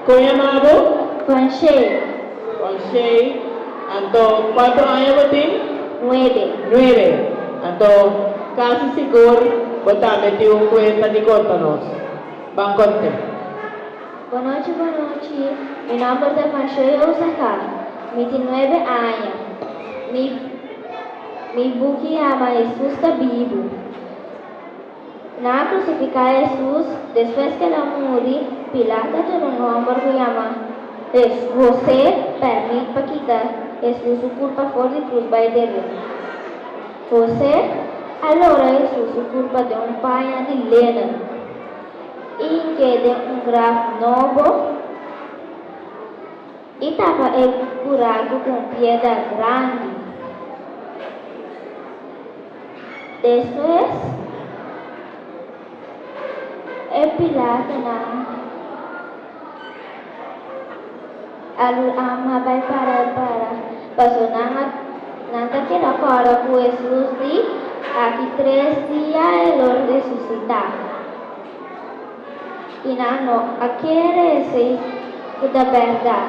Kon yamabo? Kon Shei. Kon Shei. Anto, kuantu aña bo tin? Nuebe. Nuebe. Anto, kasi sigur bo ta meti un kuenta di konta nos. Ban konte. Bonochi, bonochi. Mi nòmber ta kon Shei Osaka. Mi tin nuebe aña. Mi, mi buki yama Hesus ta bibu. Nan a krusifiká Hesus. Despues ku el a muri, Pilato a tur un hòmber ku yama José pèrmit pa kita Hesus su kurpa for di krus bai deriba. José a lora Hesus su kurpa den un paña di lenen i hinke den un graf nobo. I tapa e kuraku ku un pieda grandi. Despues, e pilatonan a lama bai para para paso nan a nan ta keda kòrda ku Hesus di aki tres dia e lo resusitá. i nan no a kere esei ku ta bèrdat.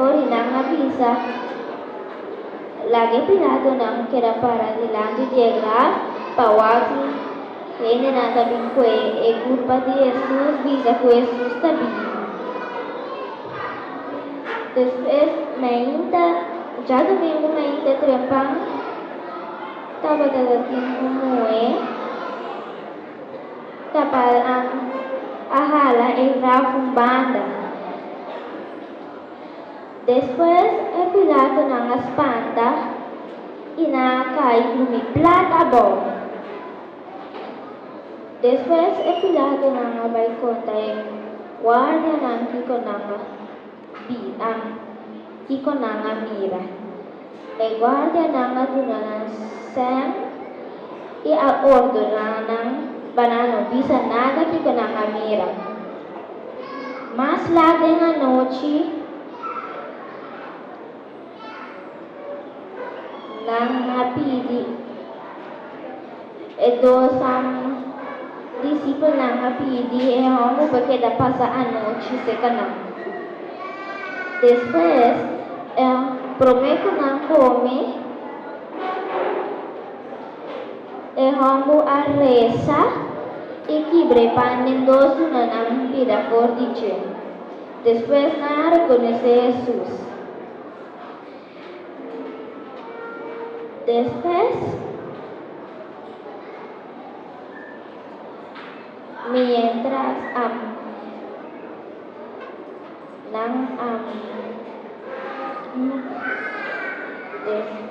Ora nan a bisa, laga e piradonan keda para dilanti di e graf pa wak-i. Hendenan ta bin kue e kurpa di Hesus bisa ku Hesus ta bibu. Despues mainta, ja dumingu mainta trempan, tabata tatin un muhé. Tapal an a hala e graf un banda. Despues e pilaatonan a spanta i nan a kai drumi plat abou. Despues e pilaatonan a bai konta e guardianan kiko nan a. Di am, kiko nan a mira? E guardianan a duna nan sèn i a ordoná nan pa nan no bisa nada kiko nan a mira. Mas lat den anochi. Nan a pidi, e dosan disipelnan a pidi e hòmber pa keda pasa anochi seka nan. Despues, e promé ku nan kome, e hòmber a resa i kibr'e pan den dos tunanan bida for di dje. Despues nan a rekonosé Hesus. Despues mientras am nan am despues.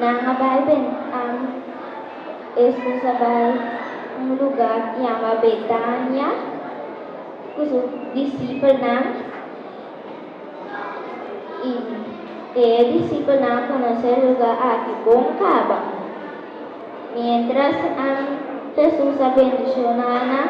Nan a bai ben am. Hesus a bai un lugá ku yama Betania ku su disipelnan. I e disipelnan a konosé e lugá aki bon kaba. Miéntras am, Hesus a bendishoná nan.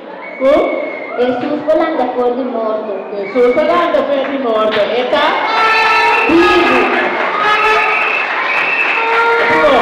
Ku Hesus por lanta for di morto. Ku Hesus a lanta for di morto, e ta bibu. Aprubo.